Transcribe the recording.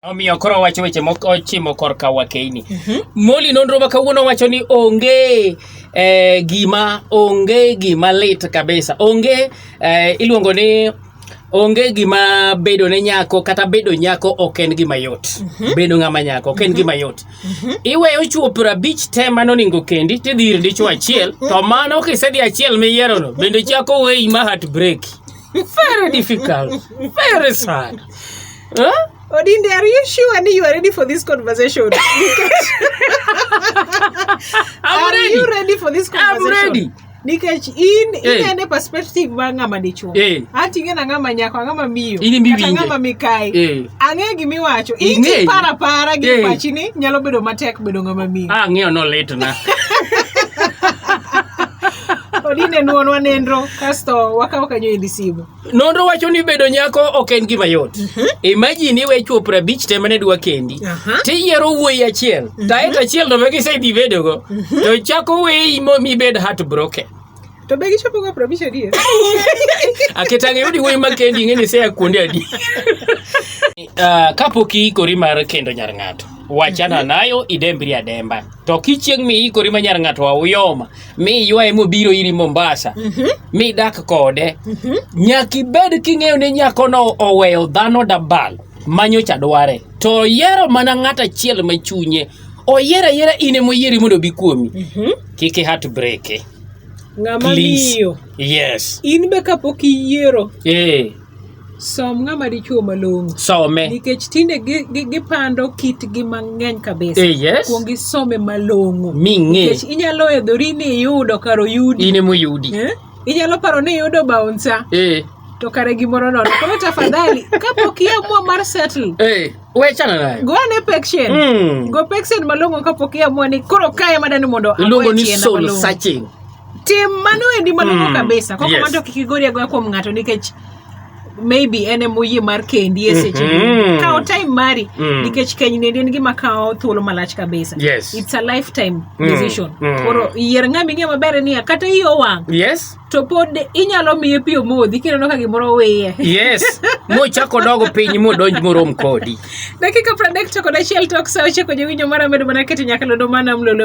Omiyo koro wacho weche moko ochimo korka wakeini. Mm -hmm. Moli nonro ma kawuono wacho ni onge eh, gima onge gima lit kabisa. Onge eh, iluongo ni onge gima bedo ne nyako kata bedo nyako ok en gima yot mm -hmm. bedo ng'ama nyako ok en mm -hmm. gima yot mm -hmm. iweyo chuo piero abich te mano oningo kendi tidhi ir dichuo achiel to mano kisedhi achiel miyierono bende chako weyi ma heart break Very difficult. Very sad. Huh? Odinde, are you sure that you are ready for this conversation? I'm are ready. you ready for this I'm conversation? ready. nikech in Hey. inene perspective ma ng'ama dichuo Hey. ating'e na ng'ama nyako ng'ama miyo In imiwinje. kata ng'ama mikayi Eh. ang'e gima iwacho Ing'eyo. iti para para gi Hey. pachi ni nyalo bedo matek bedo ng'ama miyo Ah, ng'eyo nolitna. odine nuonwa nenro kasto wakawo kanyo endi simu nonro wacho ni bedo nyako ok en gima yot mhm. imajini iwe chuo prabich te mane dwa kendi tiyiero wuoyi achiel mhm. taet achiel to be kisedhi bedogo mhm. to chako weyi mibed heart broken to be gichopoga prabich adier aketang' iyudi wuoyi makendi ing'e ni seya kuonde adi ah, kapok iikori mar kendo nyar ng'ato wachana nayo idembri ademba to kichieng' miikori ma nyar ng'ato auyoma mi ywaye mobiro iri Mombasa mm -hmm. mi dak kode mm -hmm. nyaka ibed king'eyo ni nyakono oweyo dhano dabal manyocha dware to oyiero mana ng'at achiel ma chunye oyier ayiera in ema oyieri mondo obi kuomi mm -hmm. kik ihat breke ng'ama miyo yes in be kapok iyiero eh. Som ng'ama dichuo malong'o. Some. Nikech tinde gipando kitgi mang'eny kabisa. Eh, yes. Kuong isome malong'o. Ming'e. Nikech inyalo edhori ni iyudo kar oyudi. In ema oyudi. Eh? Inyalo paro ni iyudo baunsa. Eh. To kare gimoro nono. Koro tafadhali kapok iamua mar settle. Eh. Wechana nayo. Go ane pection. Mm. Go pection malong'o kapok iamua ni koro kae madani mondo agoye chiena malong'o. Iluongo ni soul searching. tim mano endi malongo mm. kabisa koko yes. manto kik igori agoya kuom ng'ato nikech maybe en emoyie mar kendi e seche mm -hmm. kawo time mari mm. nikech keny nendi en gima kawo thuolo malach kabisa yes. it's a lifetime mm. decision mm. koro yier ng'ama ing'e maber niya kata iyo wang' yes to pod inyalo miye pi omodhi kineno ka gimoro wiye yes mochako dogo piny modonj morom kodi dakika pradek to kod achiel tok sa ochako jowinjo mara medo mana keto nyakalodo mana mlolo